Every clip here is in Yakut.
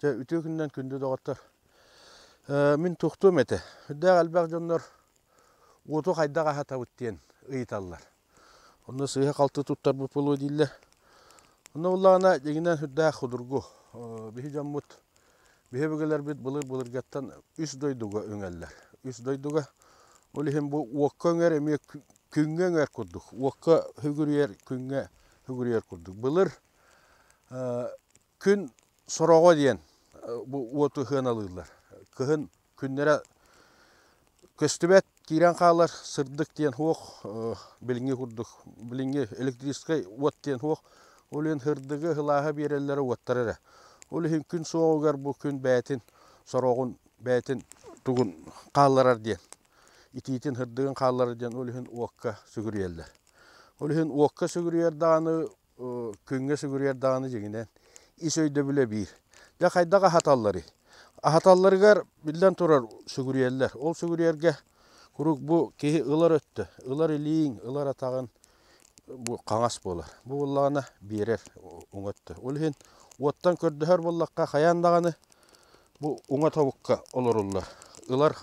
Чэ, үтүө күнүнэн күндү доҕоттор. мин тохтуом этэ. Үрдээх элбэх дьоннор уоту хайдах аһатабыт диэн ыйыталлар. Онно сыыһа-халты туттарбыт буолуо дииллэр. Онно буоллаҕына, дьиҥинэн үрдээх судургу. биһи дьоммут, биһи өбүгэлэрбит былыр-былыргаттан үс дойдуга үҥэллэр. Үс дойдуга, ол иһин бу уокка үҥэр эмиэ күҥҥэ үҥэр курдук. Уокка үгүрүйэр, күҥҥэ үгүрүйэр курдук. Былыр Күн сороҕо диэн бу уоту сыаналыыллар. Кыһын күннэрэ көстүбэт, киирэн хаалар сырдык диэн суох, билиҥҥи курдук, билиҥҥи электрическай уот диэн суох. Ол иһин сырдыгы, сылааһы биэрэллэрэ уоттар эрэ. Ол иһин күн суоҕугар бу күн бэйэтин сороҕун, бэйэтин тугун хаалларар диэн, итиитин, сырдыгын хаалларар диэн ол иһин уокка сүгүрүйэллэр. Ол иһин уокка сүгүрүйэр даҕаны күҥҥэ сүгүрүйэр даҕаны дьиҥинэн ис өйдөбүлэ биир. Дьэ хайдах аһаталларый? Аһаталларыгар, биллэн турар, сүгүрүйэллэр. Ол сүгүрүйэргэ куруук бу киһи ылар өттө, ылар илииҥ, ылар атаҕыҥ бу хаҥас буолар. Бу буоллаҕына биэрэр уҥа өттө. Ол иһин уоттан көрдөһөр буоллахха хайаан даҕаны бу уҥа тобукка олоруллар. Ылар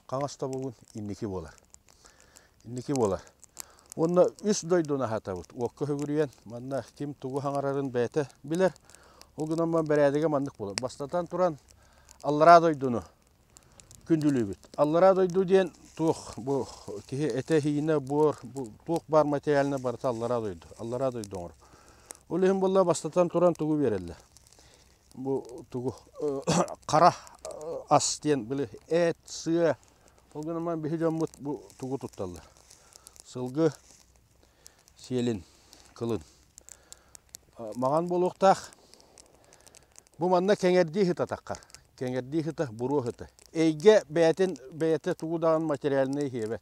хаҥас тобугун инники буолар. инники буолар. Уонна үс дойдуну аһатабыт. Уокка хөгүрүйэн, манна ким тугу хаҥарарын бэйэтэ билэр. Ол гынан баран бэрээдэгэ маннык буолар. Бастатан туран, аллараа дойдуну күндүлүүбүт. Аллараа дойду диэн туох бу киһи этэ-иһинэ буор, туох баар материальна барыта аллараа дойду. Аллараа дойду оҥорор. Ол иһин буолла бастатан туран тугу биэрэллэр. бу тугу хара ас диэн били эт, сыа. Ол гынан баран биһи дьоммут бу тугу тутталлар? Сылгы, сиэлин, кылын. Маҥан буолуохтаах. Бу манна кэҥэрдии сытатаххар. Кэҥэрдии сыта, буруо сыта. Эйгэ бэйэтин бэйэтэ тугу даҕаны материальнай иһиэбэт.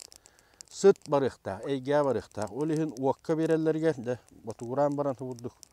Сыт барыахтаах, эйгэ барыахтаах. Ол иһин уокка биэрэллэригэр, дьэ, ботугураан баран субурдук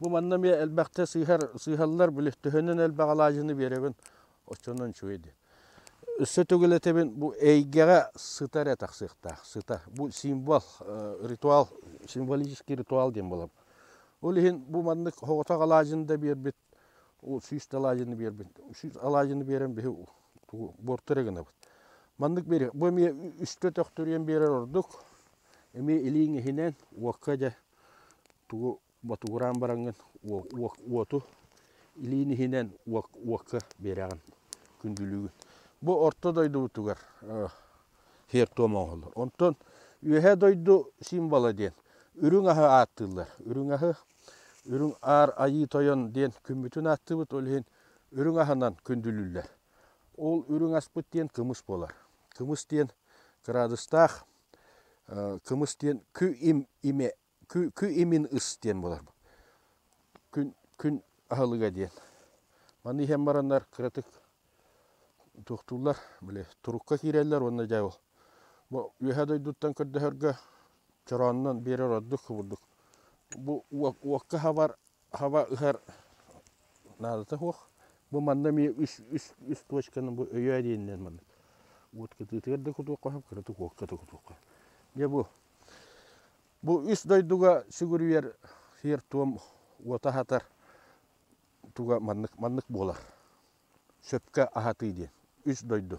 Бу манна эмиэ элбэхтэ сыыһар, сыыһаллар, били төһөнөн элбэх алаадьыны биэрэбин, оччонон үчүгэй дии. Өссө төгүл этэбин, бу эйгэҕэ сыта эрэ тахсыахтаах, сыта. Бу символ, ритуал, символический ритуал диэн буолабын. Ол иһин бу маннык соҕотох алаадьыны да биэрбит, сүүс да алаадьыны биэрбит, сүүс алаадьыны биэрэн биһи буорту эрэ гынабыт. Маннык биэриэх. Бу эмиэ үстэ төхтүрүйэн биэрэр ордук. Эмиэ илииҥ иһинэн уокка дьэ тугу ботугураан бараҥҥын уоту илиин иһинэн уокка биэрэҕин күндүлүүгүн. Бу орто дойдубутугар сиэр-туом оҥоһуллар. Онтон Үөһээ дойду символа диэн үрүҥ аһы ааттыыллар. Үрүҥ аһы, Үрүҥ Аар Айыы Тойон диэн күммүтүн ааттыыбыт, ол иһин үрүҥ аһынан күндүлүүллэр. Ол үрүҥ аспыт диэн кымыс буолар. Кымыс диэн кыраадыстаах, кымыс диэн кы имэ Кү кү-имин ыс диэн буолар бу. Күн күн аһылыга диэн. Маны иһэн бараннар кыратык туохтууллар били турукка киирэллэр уонна дьэ ол бу Үөһээ дойдуттан көрдөһөргө чорооннон биэрэр ордук кубурдук. Бу уок уокка хабар хаба ыһар наадата суох. Бу манна эмиэ үс үс үс точканы бу өйөө диэнинэн маннык уот кытыытыгар да кутуохха сөп, кыратык уокка да кутуохха сөп. Дьэ бу Бу үс дойдуга сүгүрүйэр сиэр-туом уота аһатар туга маннык маннык буолар сөпкө аһатыы диэн үс дойду